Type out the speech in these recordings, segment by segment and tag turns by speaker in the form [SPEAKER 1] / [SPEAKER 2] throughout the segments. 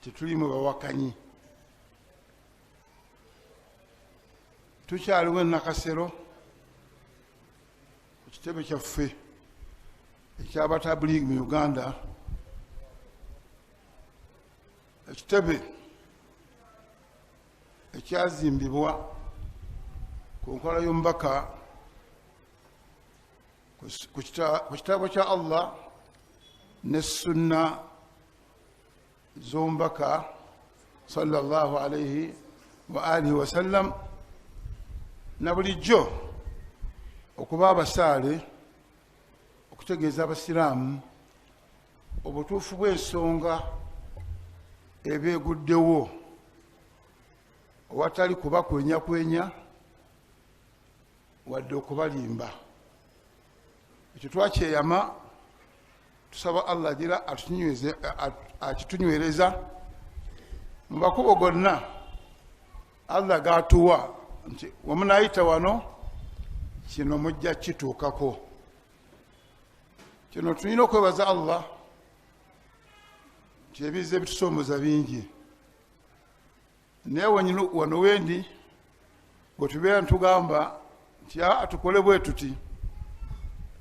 [SPEAKER 1] tetuli mu bawakanyi tukyaliwo enakasero ku kitebe kyaffe ekyabatabuligi mu uganda ekitebe ekyazimbibwa ku nkola y'omubaka ku kitabo kya allah ne sunna zombaka salllah alaihi waalihi wasallam na bulijjo okuba abasaale okutegeeza abasiraamu obutuufu bw'ensonga ebeeguddewo owatali kubakwenyakwenya wadde okubalimba ekyo twakyeyama tusaba allah agira akitunywereza mu makubo gonna allah gatuwa nti wamunayita wano kino mujja kituukako kino tulina okwebaza allah nti ebiza ebitusoomoza bingi naye wano wendi bwetubeera nitugamba nti a tukole bwe tuti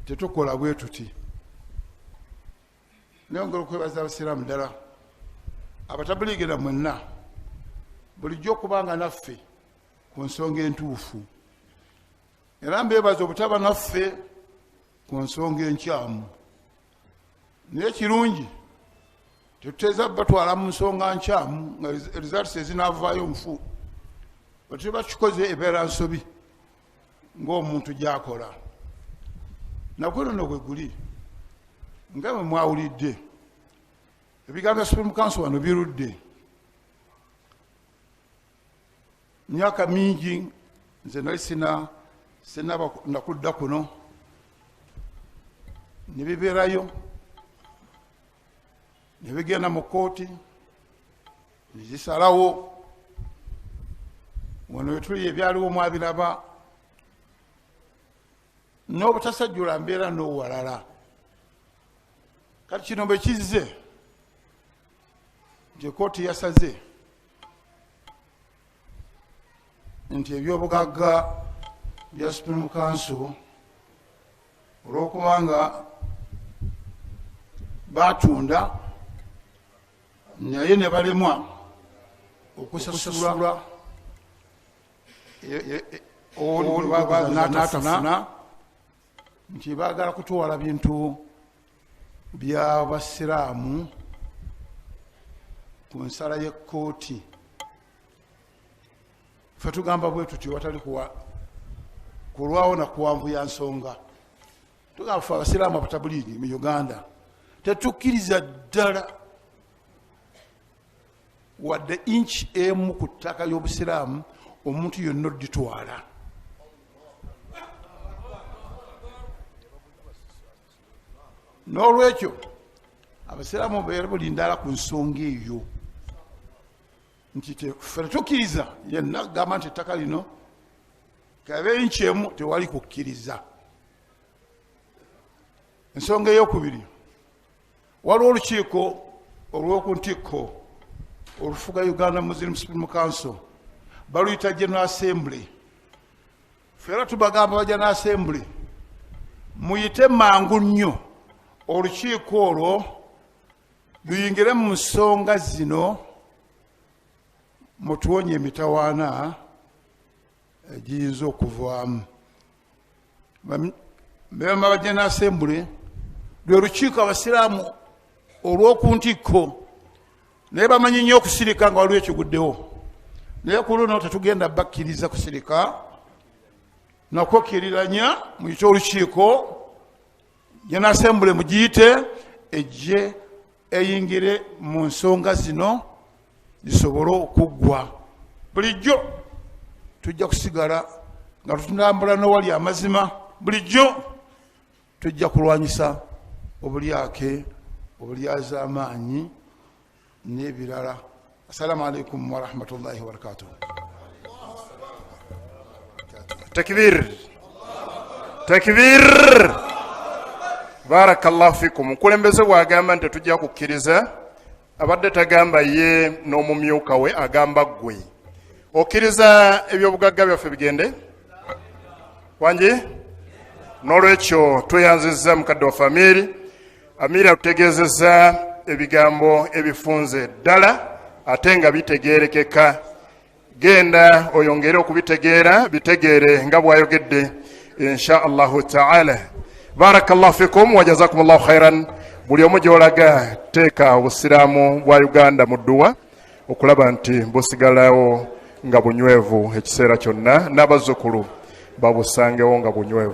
[SPEAKER 1] tetukola bwe tuti nayongera okwebaza abasiraamu ddala abatabuliigera mwenna bulijjo okuba nga naffe ku nsonga entuufu era mbeebaza obutaba naffe ku nsonga enkyamu naye kirungi tetuteza batwala mu nsonga nkyamu nga results ezinavaayo nfu batuba bakikoze ebeera nsobi ngaomuntu gyakola nakwenono gwe guli nga bwe mwawulidde ebigambo bya supreme council wano birudde myaka mingi nze nali sina sinaba nakudda kuno nebibeerayo nebigenda mu kooti nezisalawo wano wetuli ebyaliwo mwabiraba n'obutasajjula mbeera n'owalala kati kino bwe kizze nti ekooti yasaze nti ebyobugagga bya supreme council olwokuba nga batunda naye nebalemwa okusasula olwatafuna nti bagala kutwala bintu by'abasiraamu ku nsala y'ekkooti fe tugamba bwe tutyo watali kulwawo na kuwanvu ya nsonga tugamba fe abasiraamu abatabuliigi mu uganda tetukkiriza ddala wadde inki emu ku ttaka y'obusiraamu omuntu yonna oditwala n'olwekyo abasiraamu beera buli ndala ku nsonga eyo nti fe tetukkiriza yenna gamba nti ettaka lino kabe nkyemu tewali kukkiriza ensonga eyokubiri waliwo olukiiko olw'oku ntikko olufuga uganda muslim supreme council baluyita general assembly fera tubagamba baja na assembly muyite mangu nnyo olukiiko olwo luyingire mu nsonga zino mutuwonye emitawaana egiyinza okuvaamu bebama bajja na assembly lwe lukiiko abasiraamu olw'oku ntikko naye bamanyi nnyo okusirika nga waliwo ekiguddewo naye ku luno tetugenda bakkiriza kusirika nakwokiriranya mu kikyo olukiiko yanasembule mugiyite ejje eyingire mu nsonga zino zisobole okuggwa bulijjo tujja kusigala nga tutambula nowali amazima bulijjo tujja kulwanyisa obulyake obulyazaamaanyi n'ebirala assalamu alaikum warahmatullahi wabarakatuh
[SPEAKER 2] takbir takbir barakallahu fikum mukulembeze bwagamba nti tetujja kukkiriza abadde tagamba ye n'omumyuka we agamba ggwe okkiriza ebyobugagga byaffe bigende wangi n'olwekyo tweyanzizza mukadde waffe amiiri amiiri atutegeezezza ebigambo ebifunze ddala ate nga bitegeerekeka genda oyongere okubitegeera bitegeere nga bwayogedde insha allahu taala barakallahu fikum wajazakum llahu khairan buli omu gyolaga teeka obusiraamu bwa uganda mu dduwa okulaba nti busigalawo nga bunywevu ekiseera kyonna n'abazzukulu babusangewo nga bunywevu